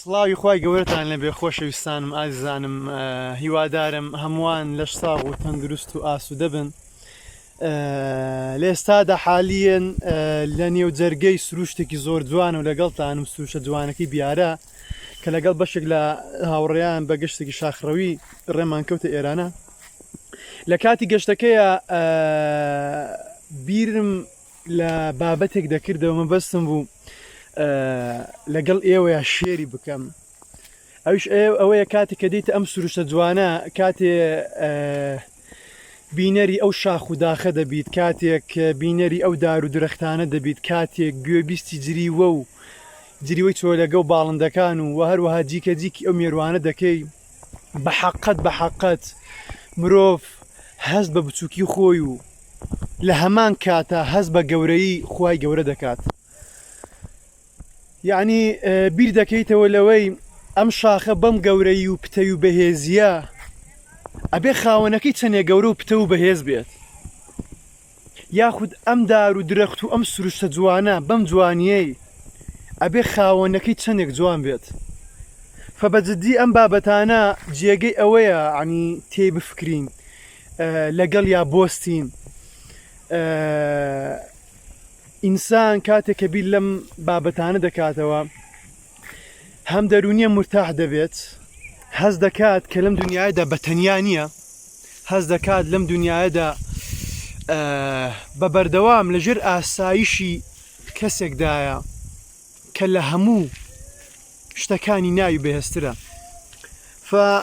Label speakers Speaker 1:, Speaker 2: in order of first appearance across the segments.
Speaker 1: سڵاوی خی گەورەتان لەبێ خۆشەویستانم ئازانم هیوادارم هەمووان لەش ساغ و تەندروست و ئاسوودە بن لێستادا حالیەن لە نێو جەرگەی سروشتێکی زۆر جوان و لەگەڵتان و سروشە جوانەکەی بیارە کە لەگەڵ بەشێک لە هاوڕێیان بە گشتێکی شاخڕەوی ڕێمان کەوتە ئێرانە لە کاتی گەشتەکەیە بیرم لە بابەتێک دەکردەوە مە بەستم بوو لەگەڵ ئێوەیە شێری بکەم ئەوش ئەوەیە کاتی کە دیتە ئەم سروشتە جوانە کاتێ بینەری ئەو شاخ و داخە دەبیت کاتێک بینەری ئەو دار و درەختانە دەبیت کاتێک گوێبیستی جریوە و جریوەی چۆلەگە و باڵندەکان و وە هەروەها جیکە جیکی ئەو مێروانە دەکەی بەحەقت بەحەقت مرۆڤ هەست بە بچوکی خۆی و لە هەمان کاتا هەست بە گەورەی خوای گەورە دەکات یعنی بیر دەکەیتەوە لەوەی ئەم شاخە بەم گەورەی و پتەوی و بەهێزیە ئەبێ خاوەنەکەی چەندێ گەورە و پتە و بەهێز بێت یاخود ئەم دار و درەخت و ئەم سروشتە جوانە بەم جوانیەی ئەبێ خاوەنەکەی چەندێک جوان بێت فە بە جدی ئەم بابەتانە جێگەی ئەوەیە عنی تێی بفکرین لەگەڵ یا بۆستین ئینسان کاتێک کە بیر لەم بابەتانە دەکاتەوە هەم دەرونیە مرتاح دەبێت هەز دەکات کە لەم دنیادا بە تەنیا نییە هەز دەکات لەم دنیادا بە بەردەوام لەژێر ئاسایشی کەسێکدایە کە لە هەموو شتەکانی ناوی بەهێسترە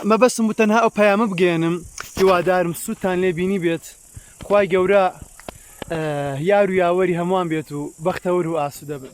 Speaker 1: مەبەستم و تەنها ئەو پەیامە بگەێنم هیوادارم سووتان لێبینی بێت خوای گەورە یار و یاوەری هەمووان بێت و بەختەوەر و ئاسوودە بن.